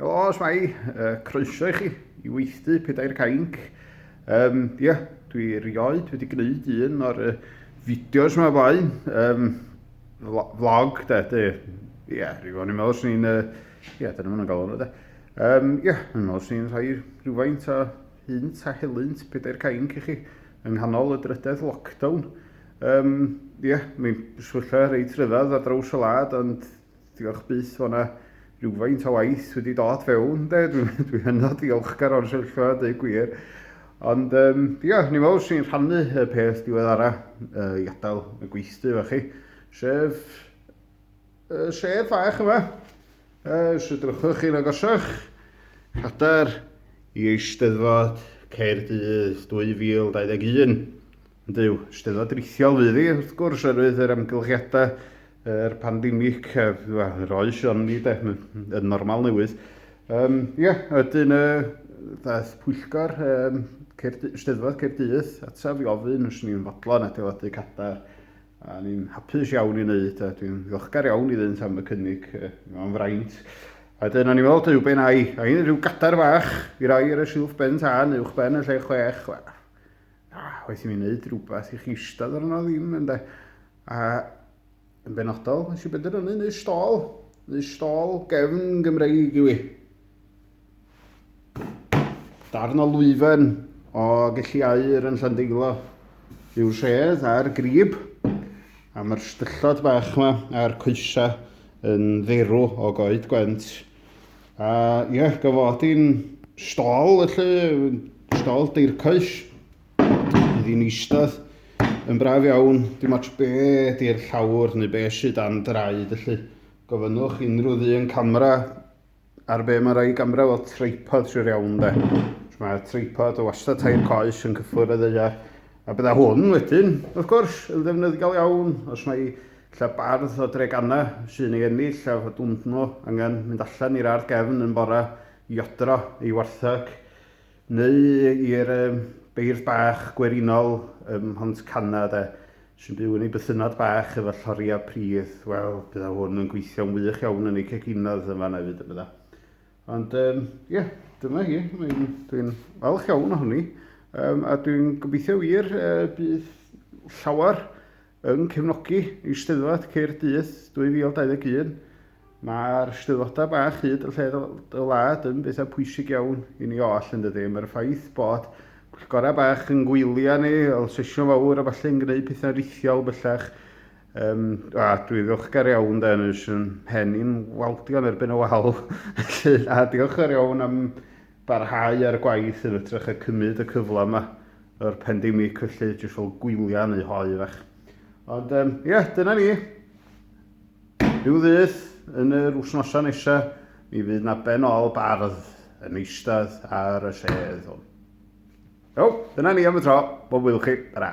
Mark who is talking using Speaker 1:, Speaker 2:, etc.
Speaker 1: Helo, Smai, uh, croeso i chi i weithdu pedair cainc. Um, ie, yeah, dwi rioed wedi gwneud un o'r uh, fideos yma fain. Um, vlog, da, da, ie, yeah, rhyw o'n i'n meddwl sy'n ni'n, ie, yeah, dyna ma'n galw nhw, da. Um, ie, yeah, yn meddwl sy'n rhai rhywfaint o hynt a helynt pedair cainc i chi yng nghanol y drydedd lockdown. Yym, ie, mae'n swylla reit ryddhad ar draws y wlad, ond diolch byth fod yna rhywfaint o waith wedi dod fewn, de. Dwi'n dwi hynod ddiolchgar o'n swyllfa, dweud gwir. Ond, um, ia, ni meddwl sy'n rhannu y peth diweddara uh, i adael y gweithdy fe chi, sef uh, sef fach yma. Uh, os ydrychwch chi'n agosach, cadair i Eisteddfod Caerdydd 2021. Ond yw, Steddfod rithiol fydd hi, wrth gwrs, oherwydd yr amgylchiadau, yr pandemic, yr oes o'n ni, de, yn normal newydd. Um, ie, ydyn y ddaeth pwyllgor um, Cerdy, Steddfod Cerdydd ataf i ofyn os ni'n fodlon adeiladu cadar a ni'n hapus iawn i wneud a dwi'n ddiolchgar iawn iddynt am y cynnig mewn fraint. A dyna ni'n meddwl, dyw ben ai, ai rhyw gadar fach i roi ar y silff ben tân uwch ben y lle chwech, A waeth i mi wneud rhywbeth i chi eistedd arno ddim, ynde? A yn benodol, nes i benderfynu neu stôl, neu stôl gefn Gymreig i wi. Darn o lwyfen o gelli air yn Llandeilo yw'r sedd a'r grib, a mae'r styllod bach yma a'r coesa yn dderw o goed gwent. A ie, yeah, gofod i'n stol, felly, stol deircoes, fydd i'n eistedd yn braf iawn, dim ots be di'r llawr neu be sydd dan draed, felly gofynnwch unrhyw ddyn camera ar be mae rhai gamera fel tripod sy'n iawn de. Mae tripod o wastad tair coes yn cyffwrdd y ddeiar. A bydda hwn wedyn, wrth gwrs, yn ddefnyddiol iawn os mae Lle bardd o Dregana sy'n ei ennill a fod undnw angen mynd allan i'r ardd gefn yn bore i odro ei wartheg, neu i'r beirdd bach gwerinol ym Mhont Cana, de, sy'n byw yn ei bythynnod bach efo lloriau pridd. Wel, bydda hwn yn gweithio'n wych iawn yn ei ceginodd yn fanna hefyd, bydda. Ond, ie, um, yeah, dyna hi. Dwi'n falch iawn ohoni. Um, a dwi'n gobeithio wir uh, bydd llawer Yn cefnogi Eisteddfod Caerdydd 2021, mae'r Steddfodau bach hyd yn lled y wlad yn bethau pwysig iawn i ni oll, yn dydy. Mae'r ffaith bod pwyllgorau bach yn gwylio ni, fel sesiwn fawr a falle yn gwneud pethau'n rithiol bellach, Um, a dwi ddiolchgar iawn da, nes yn pen i'n waldion erbyn y wal. Felly, a diolchgar iawn am barhau â'r gwaith yn ytrach a cymyd y cyfle yma o'r pandemic felly, jyst fel gwylia neu hoe fach. Ond um, ie, yeah, dyna ni. Rhyw ddydd yn yr wsnosa nesa, mi fydd na ben ôl bardd yn eistedd ar y sedd hwn. Iawn, dyna ni am y tro. Bob wyl chi. Tara.